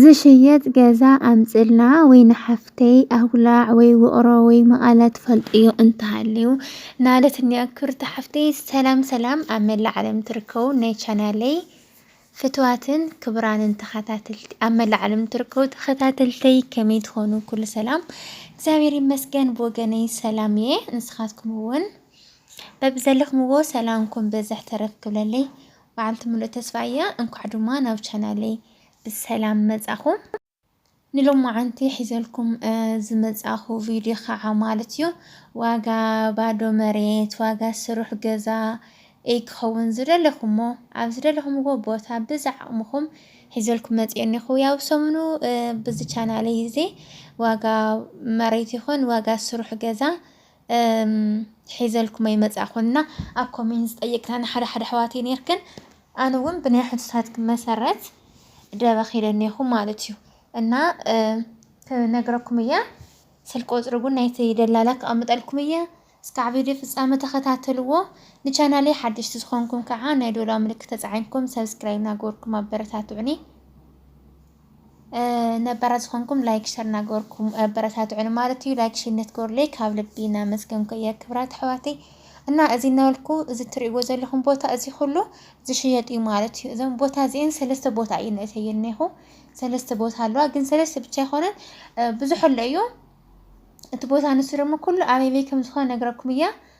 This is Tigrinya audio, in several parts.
ዝሽየጥ ገዛ ኣምፅእልና ወይ ንሓፍተይ ኣጉላዕ ወይ ውቕሮ ወይ መቐለ ትፈልጥዮ እንተሃልዩ ናለትኒ ኣክብርቲ ሓፍተይ ሰላም ሰላም ኣብ መላእ ዓለም ትርከቡ ናይ ቻናለይ ፍትዋትን ክብራንን ተኸታተልቲ ኣብ መላእ ዓለም ትርከቡ ተኸታተልተይ ከመይ ትኾኑ ኩሉ ሰላም እግዚኣብሔር ይመስገን ብወገነይ ሰላም እየ ንስኻትኩም እውን በብዘለኹምዎ ሰላምኩም በዝሕ ተረፍ ክብለለይ በዓልቲ ምሉእ ተስፋ እያ እንኳዕ ድማ ናብ ቻናለይ ብሰላም መጻኹም። ንሎማዓንቲ ሒዘልኩም ዝመጻኹ ቪድዮ ከዓ ማለት እዩ ዋጋ ባዶ መሬት ዋጋ ስሩሕ ገዛ እይ ክኸውን ዝደለኹሞ ኣብ ዝደለኹምዎ ቦታ ብዝዓቕምኹም ሒዘልኩም መፅኦ እኒኹ ያው ሰሙኑ ብዚ ቻናለይ እዚ ዋጋ መሬት ይኹን ዋጋ ስሩሕ ገዛ እም ሒዘልኩሞ ይመጽኣ ኮንና ኣብ ኮሜንት ዝጠየቅናኒ ሓደ ሓደ ኣሕዋተይ ነርክን ኣነ እውን ብናይ ሕቶታትክን መሰረት ደበኽ ኢለ እኔኹ ማለት እዩ እና ክነግረኩም እየ ስልክ ቁፅሪ እውን ናይቲ ደላላ ክቐምጠልኩም እየ እስካዕ ቪድዮ ፍጻመ ተኸታተልዎ ንቻናለይ ሓደሽቲ ዝኾንኩም ከዓ ናይ ዶላ ምልክት ተፃዒንኩም ሰብስክራይብ ናገበርኩም ኣበረታትዑኒ ነባራት ዝኾንኩም ላይክ ሸር ናገበርኩም ኣበረታትዑን ማለት እዩ። ላይክ ሸር ነትገበሩለይ ካብ ልቢ እናመስገንኩ እየ ክብራት ኣሕዋተይ እና እዚ እናበልኩ እዚ እትሪእዎ ዘለኹም ቦታ እዚ ኩሉ ዝሽየጥ እዩ ማለት እዩ። እዞም ቦታ እዚኤን ሰለስተ ቦታ እዩ ንእተየ እኔኹ ሰለስተ ቦታ ኣለዋ፣ ግን ሰለስተ ብቻ ኣይኮነን ብዙሕ ኣሎ እዩ። እቲ ቦታ ንሱ ደግሞ ኩሉ ኣበይ ከም ዝኾነ ነግረኩም እያ።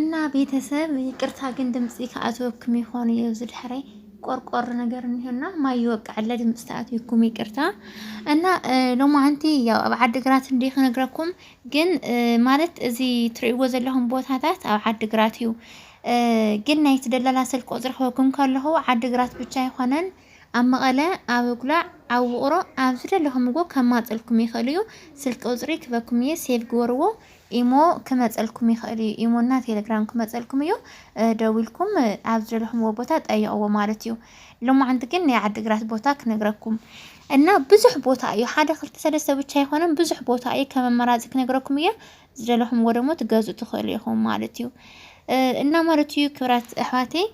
እና ቤተሰብ ይቅርታ ግን ድምፂ ከኣትወክም ይኾኑ እዩ እዚ ድሕረይ ቆርቆር ነገር እኒሆና ማይ ይወቅዐለ ድምፂ ተኣትወኩም ይቅርታ እና ሎማዓንቲ ያው ኣብ ዓዲግራት እንዲ ክነግረኩም ግን ማለት እዚ ትሪእዎ ዘለኹም ቦታታት ኣብ ዓዲግራት እዩ ግን ናይቲ ደላላ ስልክ ቁጽሪ ክህበኩም ከለኹ ዓዲ ግራት ብቻ ኣይኮነን ኣብ መቐለ ኣብ እጉላዕ ኣብ ውቕሮ ኣብ ዝደለኹምዎ ከማጽልኩም ይኽእል እዩ ስልክ ቁጽሪ ክበኩም እየ ሴቭ ግበርዎ ኢሞ ክመጸልኩም ይኽእል እዩ ኢሞና ቴሌግራም ክመጸልኩም እዩ ደዊልኩም ኣብ ዝደለኹምዎ ቦታ ጠይቕዎ ማለት እዩ ሎማዓንቲ ግን ናይ ዓዲ ግራት ቦታ ክነግረኩም እና ብዙሕ ቦታ እዩ ሓደ ክልተ ሰለስተ ብቻ ኣይኮነን ብዙሕ ቦታ እዩ ከመመራጺ ክነግረኩም እየ ዝደለኹምዎ ደግሞ ትገዝኡ ትኽእሉ ኢኹም ማለት እዩ እና ማለት እዩ ክብራት ኣሕዋተይ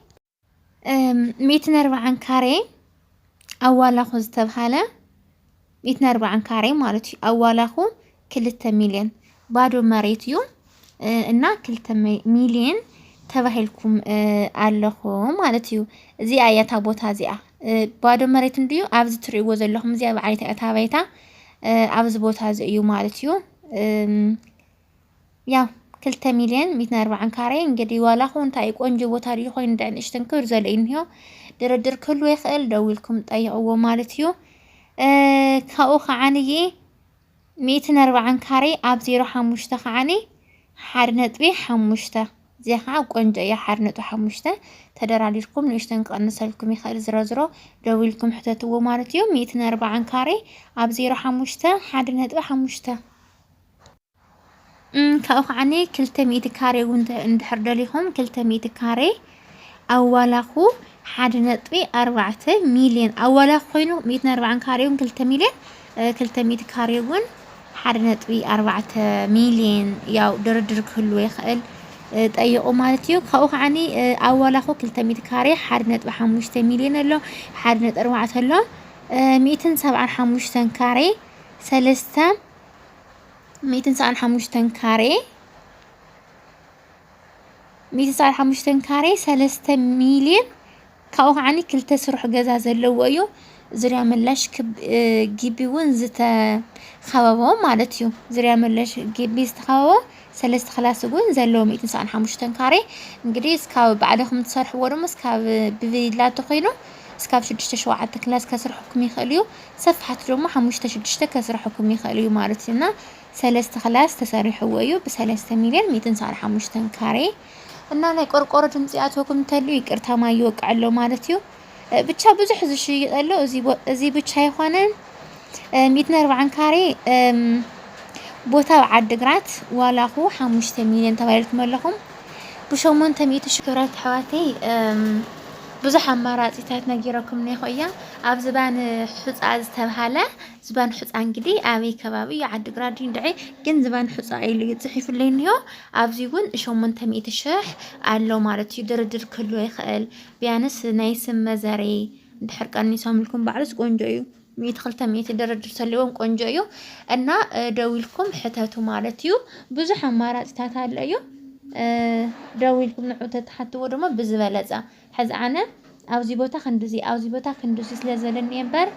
ሚእትን ኣርባዓን ካሬ ኣዋላኹ ዝተብሃለ ሚእትን ኣርባዓን ካሬ ማለት እዩ ኣዋላኹ ክልተ ሚሊዮን ባዶ መሬት እዩ እና ክልተ ሚሊዮን ተባሂልኩም ኣለኹ ማለት እዩ እዚኣ እያ እታ ቦታ እዚኣ ባዶ መሬት እንድዩ ኣብዚ ትሪእዎ ዘለኹም እዚኣ በዓል እታ ባይታ ኣብዚ ቦታ እዚ እዩ ማለት እዩ ያው ክልተ ሚልዮን ሚትን ኣርባዓን ካሬ እንግዲህ ዋላ ኹ እንታይ ቆንጆ ቦታ ድዩ ኮይኑ እንዳ ንእሽተን ክብር ዘለ እንዮ ድርድር ክህሉ ይኽእል ደዊልኩም ጠይቕዎ ማለት እዩ ካብኡ ከዓንዬ ሚትን ኣርባዓን ካሬ ኣብ ዜሮ ሓሙሽተ ከዓኒ ሓደ ነጥቢ ሓሙሽተ እዚኣ ከዓ ቆንጆ እያ ሓደ ነጥቢ ሓሙሽተ ተደራዲርኩም ንእሽተን ክቐንሰልኩም ይኽእል ዝረዝሮ ደው ኢልኩም ሕተትዎ ማለት እዩ ሚእትን ኣርባዓን ካሬ ኣብ ዜሮ ሓሙሽተ ሓደ ነጥቢ ሓሙሽተ ካብኡ ከዓኒ ክልተ ሚእቲ ካሬ እውን እንድሕር ደሊኹም ክልተ ሚእቲ ካሬ ኣዋላኹ ሓደ ነጥቢ ኣርባዕተ ሚልዮን ኣዋላ ኮይኑ ሚእትን ኣርባዓን ካሬ እውን ክልተ ሚልዮን ክልተ ሚእቲ ካሬ እውን ሓደ ነጥቢ ኣርባዕተ ሚልዮን ያው ድርድር ክህልዎ ይኽእል ጠይቑ ማለት እዩ ካብኡ ከዓኒ ኣዋላኹ ክልተ ሚእቲ ካሬ ሓደ ነጥቢ ሓሙሽተ ሚልዮን ኣሎ ሓደ ነጥቢ ኣርባዕተ ኣሎ ሚእትን ሰብዓን ሓሙሽተን ካሬ ሰለስተ ሚእትን ሰብዓን ሓሙሽተን ካሬ ሚእቲ ሰዓል ሓሙሽተ ካሬ ሰለስተ ሚልየን ካብኡ ከዓኒ ክልተ ስሩሕ ገዛ ዘለዎ እዩ ዙርያ መላሽ ግቢ እውን ዝተኸበቦ ማለት እዩ ዙርያ መላሽ ግቢ ዝተኸበቦ ሰለስተ ክላስ እውን ዘለዎ ሚእቲ ሰዓን ሓሙሽተን ካሬ እንግዲህ እስካብ ባዕልኹም ትሰርሕዎ ድማ እስካብ ብቪላ ተኾይኑ እስካብ ሽዱሽተ ሸውዓተ ክላስ ከስርሐኩም ይኽእል እዩ ሰፋሕቲ ድማ ሓሙሽተ ሽዱሽተ ከስርሐኩም ይኽእል እዩ ማለት እዩ እና ሰለስተ ክላስ ተሰሪሕዎ እዩ ብሰለስተ ሚልዮን ሚእትን ሰኣን ሓሙሽተን ካሬ እና ናይ ቆርቆሮ ድምፂ ይኣትወኩም እንተልዩ ይቅርታ ማይ ይወቅዕ ኣሎ ማለት እዩ ብቻ ብዙሕ ዝሽይጥ ኣሎ እዚ ብቻ ኣይኮነን ሚእትን ኣርባዓን ካሬ ቦታ ኣብ ዓዲግራት ዋላኹ ሓሙሽተ ሚልዮን ተባሂልኩም ኣለኹም ብሸሞንተ ሚእቲ ሺ ክብራት ኣሕዋተይ ብዙሕ ኣማራፂታት ነጊረኩም ኔኹ እያ ኣብ ዝባን ሑፃ ዝተብሃለ ዝባን ሑጻ እንግዲ ኣበይ ከባቢ እዩ ዓዲ ግራት ድዩ እንድዒ ግን ዝባን ሑጻ ኢሉ እዩ ጽሒፉለይ እንዮ ኣብዚ እውን ሸሞንተ ሚእቲ ሽሕ ኣሎ ማለት እዩ ድርድር ክህልዎ ይኽእል ቢያንስ ናይ ስም መዘረይ እንድሕር ቀኒሶምልኩም ባዕሉስ ቆንጆ እዩ ሚእቲ ክልተ ሚእቲ ድርድር ተልዎም ቆንጆ እዩ እና ደዊልኩም ሕተቱ ማለት እዩ ብዙሕ ኣማራፅታት ኣሎ እዩ ደዊልኩም ንዑ ተትሓትዎ ድማ ብዝበለፀ ሕዚ ኣነ ኣብዚ ቦታ ክንድዚ ኣብዚ ቦታ ክንድዚ ስለ ዝበለኒ እየ እምበር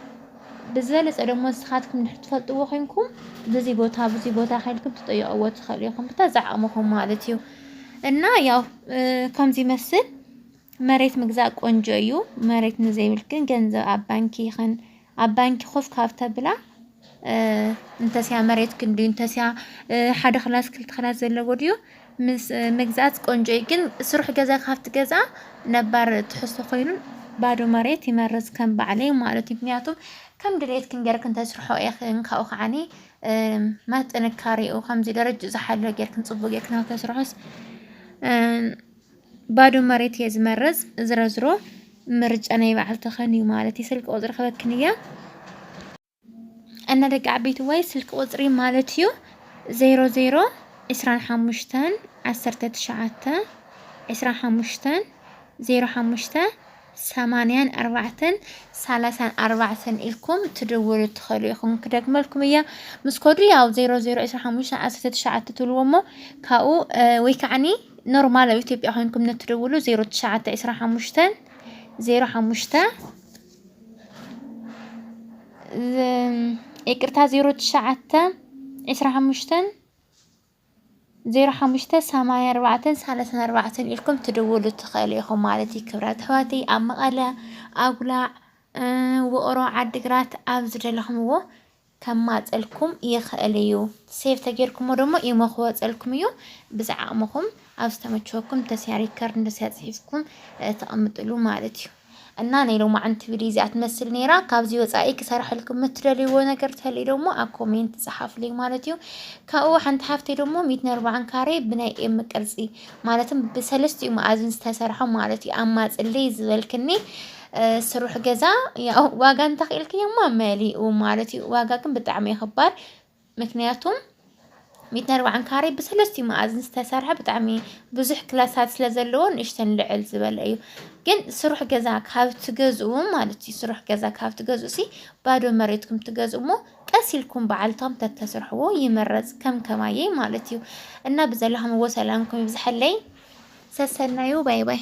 ብዝበለፀ ደሞ ንስኻትኩም እንድሕር ትፈልጥዎ ኮይንኩም ብዚ ቦታ ብዚ ቦታ ከልኩም ትጠይቅዎ ትኽእሉ ኢኹም ብታ ዝዓቅምኹም ማለት እዩ እና ያው ከምዚ ይመስል መሬት ምግዛእ ቆንጆ እዩ መሬት ንዘይብል ግን ገንዘብ ኣብ ባንኪ ይኽን ኣብ ባንኪ ኮፍ ካብ ተብላ እንተስያ መሬት ክንዲ እንተስያ ሓደ ክላስ ክልተ ክላስ ዘለዎ ድዩ ምስ ምግዛእት ቆንጆ እዩ። ግን ስሩሕ ገዛ ካብ ትገዝኣ ነባር ትሕዝቶ ኮይኑ ባዶ መሬት ይመርጽ ከም ባዕለይ ማለት እዩ። ምክንያቱም ከም ድሌትክን ጌርክን ተስርሖ ኢኽን ካብኡ ከዓኒ ማት ጥንካሬኡ ከምዚ ደረጅኡ ዝሓለወ ጌርክን ጽቡቕ ጌርክን ኣብ ተስርሖስ ባዶ መሬት እየ ዝመረፅ ዝረዝሮ ምርጫ ናይ በዓል ተኸን እዩ ማለት እዩ ስልኪ ቁፅሪ ክበክን እያ እና ደቂ ዓበይቲ ዋይ ስልኪ ቁፅሪ ማለት እዩ ዜሮ ዜሮ ዕስራን ሓሙሽተን ዓሰርተ ትሽዓተ ዕስራን ሓሙሽተን ዜሮ ሓሙሽተ ሰማንያን ኣርባዕተን ሳላሳን ኣርባዕተን ኢልኩም ትድውሉ ትኸሉ ኢኹም ክደግመልኩም እየ ምስ ኮዱ ያው ዜሮ ዜሮ ዕስራ ሓሙሽተ ዓሰርተ ትሽዓተ ትብልዎ እሞ ካብኡ ወይ ከዓኒ ኖርማል ኣብ ኢትዮጵያ ኮይንኩም ነትድውሉ ዜሮ ትሽዓተ ዕስራ ሓሙሽተን ዜሮ ሓሙሽተ ይቅርታ ዜሮ ትሽዓተ ዕስራ ሓሙሽተን ዜሮ ሓሙሽተ ሰማንያ ኣርባዕተ ሳላሳን ኣርባዕተን ኢልኩም ትድውሉ ትኽእሉ ኢኹም ማለት እዩ ክብራት ኣሕዋተይ ኣብ መቐለ ኣጉላዕ ውቕሮ ዓዲግራት ኣብ ዝደለኹምዎ ከማፀልኩም ይኽእል እዩ ሴቭ ተጌርኩሞ ደሞ ኢሞ ክወፀልኩም እዩ ብዝዓቕምኹም ኣብ ዝተመቸወኩም ተስያ ሪከርድ ንተስያ ፅሒፍኩም ተቐምጥሉ ማለት እዩ እና ናይ ሎማዕንቲ ቪድዮ እዚኣ ትመስል ነይራ። ካብዚ ወፃኢ ክሰርሐልኩም እትደልይዎ ነገር ተልዩ ደሞ ኣብ ኮሜንት ፀሓፍልይ ማለት እዩ። ካብኡ ሓንቲ ሓፍተይ ደሞ ሚትን ኣርባዓን ካሬ ብናይ ኤም ቅርፂ ማለትም ብሰለስትኡ መኣዝን ዝተሰርሐ ማለት እዩ ኣማፅልይ ዝበልክኒ ስሩሕ ገዛ ያው ዋጋ እንተኽኢልክዮማ መሊኡ ማለት እዩ። ዋጋ ግን ብጣዕሚ ይኽባር ምክንያቱም ሚእትን ኣርባዓን ካሬ ብሰለስትኡ መኣዝን ዝተሰርሐ ብጣዕሚ ብዙሕ ክላሳት ስለ ዘለዎ ንእሽተን ልዕል ዝበለ እዩ ግን ስሩሕ ገዛ ካብ ትገዝኡ ማለት እዩ ስሩሕ ገዛ ካብ ትገዝኡ ሲ ባዶ መሬትኩም ትገዝኡ እሞ ቀስ ኢልኩም በዓልቶም ተተስርሕዎ ይመረፅ ከም ከማየይ ማለት እዩ እና ብዘለኹምዎ ሰላምኩም ይብዝሐለይ ሰሰናዩ ባይ ባይ